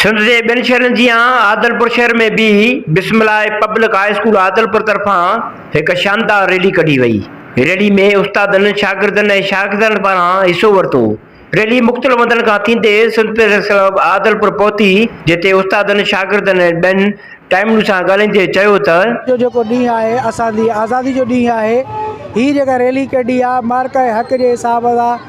سنڌ جي ٻين شهرن جيان عادلپور شهر ۾ به بسم الله پبلڪ هاء اسڪول عادلپور طرفان هڪ شاندار ريلي ڪڍي وئي. ريلي ۾ استادن، شاگردن ۽ شاهگزارن پاران حصو ورتو. ريلي مختلف هنڌن کان ٿيندي سنڌ پريس ڪلب عادلپور پهتي جتي استادن، شاگردن ۽ ٻين ٽائيمون سان ڳالهائيندي چيو ته. اڄ جو جيڪو ڏينهن آهي اسان جي آزادي جو ڏينهن آهي. هي جيڪا ريلي ڪڍي آهي مارڪا حق جي حساب سان.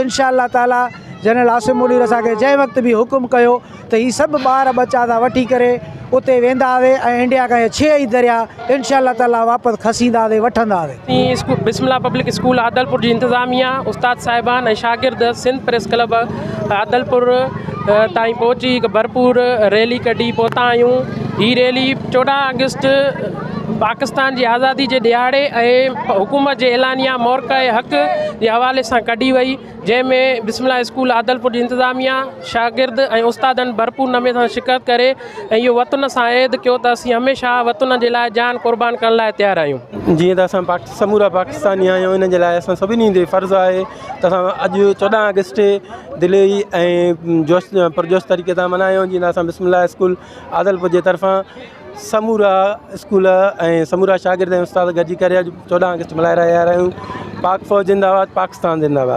انشاء الله تعاليٰ جنرل عاصم منير اسان کي جنهن وقت به حڪم ڪيو ته هي سڀ ٻار ٻچا تان وٺي ڪري اتي وينداسي ۽ انڊيا کان اهي ڇهه ئي دريا انشاء الله تعاليٰ واپس کسينداسي وٺنداسي. اسين بسم الله پبلڪ اسڪول عادلپور جي انتظاميا، استاد صاحبان ۽ شاگرد سنڌ پريس ڪلب عادلپور تائين پهچي هڪ ڀرپور ريلي ڪڍي پهتا آهيون هي ريلي چوڏهن آگسٽ پاڪستان جي آزادي جي ڏهاڙي ۽ حڪومت جي اعلانيه مورخه حق جي حوالي سان ڪڍي وئي جنهن ۾ بسم الله اسڪول عادلپور جي انتظاميه شاگرد ۽ استادن ڀرپور نمي سان شرڪت ڪري ۽ اهو وطن سان عهد ڪيو ته اسين هميشه وطن جي لاء جان قربان ڪرڻ لاء تيار آهيون. جيئن ته اسان سمورا پاڪستاني آهيون ان جي لاء اسان سڀني تي فرض آهي ته اسان اڄ چوڏهن آگسٽ دلي ۽ جوش پرجوش طريقي سان ملهايون جيئن اسان بسم الله اسڪول عادلپور جي طرفان سمورا اسڪول ۽ سمورا شاگرد ۽ استاد گڏجي ڪري اڄ چوڏهن آگسٽ ملهائي رهيا آهيون پاڪ فوج زنده آباد پاڪستان زنده آباد.